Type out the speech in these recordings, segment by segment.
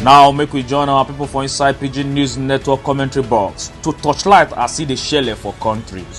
now make we join our people for inside pidgin news network commentary box to torchlight as e dey shele for countries.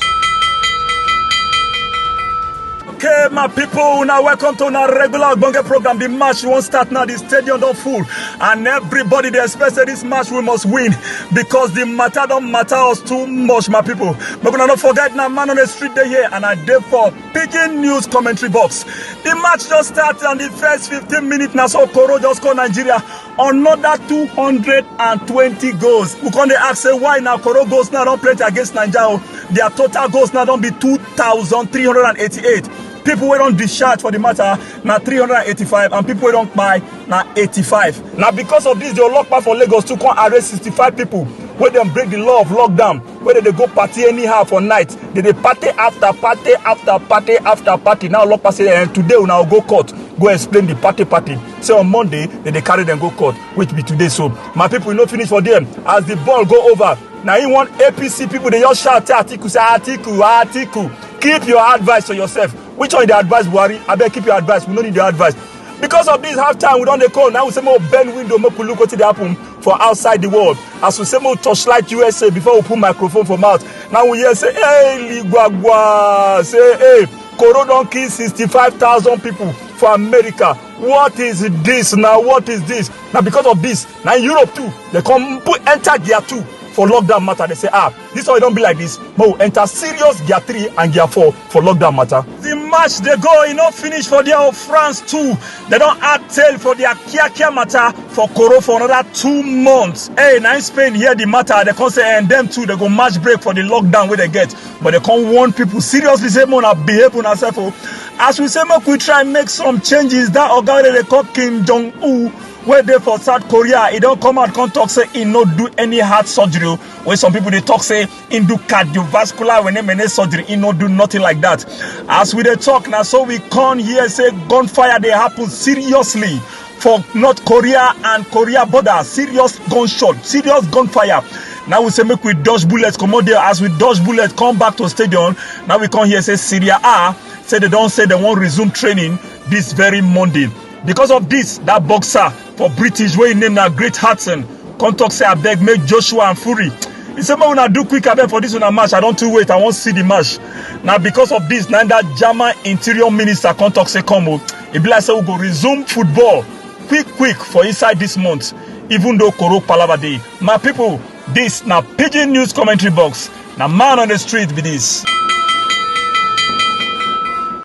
Okay, my people, una welcome to una regular Ogbonge program. The match won't start now. The stadium don't full, and everybody they expect say this match we must win because the matter don't matter us too much, my people. But una not forget now, man on the street they here, and I dey for Pidgin News commentary box. The match just started and the first 15 minutes now so Koro just called Nigeria another 220 goals. We can ask say why now Koro goals now don't play against Nigeria. Their total goals now don't be 2,388. People wey don discharge for the matter na 385 and people wey don kpai na 85. Na because of this the Olokpa for Lagos too come arrest 65 people wey dem break the law of lockdown wey dem dey go party anyhow for night dem dey party after party after party after party now olopa say eh today una go court go explain the party party say on monday dem dey carry dem go court which be today so my people e no finish for there as the ball go over na im one apc people dey just shout say atiku say atiku atiku keep your advice to yourself which one you dey advise buhari abeg keep your advice we no need your advice because of this half time we don dey call now we say make we bend window make we look wetin dey happen for outside the world as we say make we torchlight usa before we put microphone for mouth now we hear say hey ligwagwa say hey koro don kill sixty-five thousand people for america what is this na what is this na because of this na europe too dey come put enter gear two for lockdown matter dey say ah This one don be like this, but we enter serious gear three and gear four for lockdown matter. The match dey go, e no finish for there of France too. They don add tail for their kiakia matter for Koro for another two months. Hey, na in Spain hear the matter, they come say and them too, they go match break for the lockdown wey they get. But they come warn people seriously say make una behave una sef o. As we say make we try make some changes, that oga wey dem dey call Kim Jong Un wey dey for South Korea, e don come out come talk say e no do any heart surgery o. wey some people dey talk say im do cardiovascular wene-mene surgery im no do nothing like that as we dey talk na so we come hear say gunfire dey happen seriously for north korea and korea border serious gunshot serious gunfire now we say make we dodge bullets comot there as we dodge bullets come back to stadium now we come hear say syria a say they don say they wan resume training this very monday because of this that boxer for british wey im name na great hartson come talk say abeg make joshua and fury he say make una do quick abeg for this una match i don too wait i wan see the match na because of this na that german interior minister come talk say come o e be like say we go resume football quick quick for inside this month even though koro palava dey my people this na pidgin news commentary box na man on the street be this.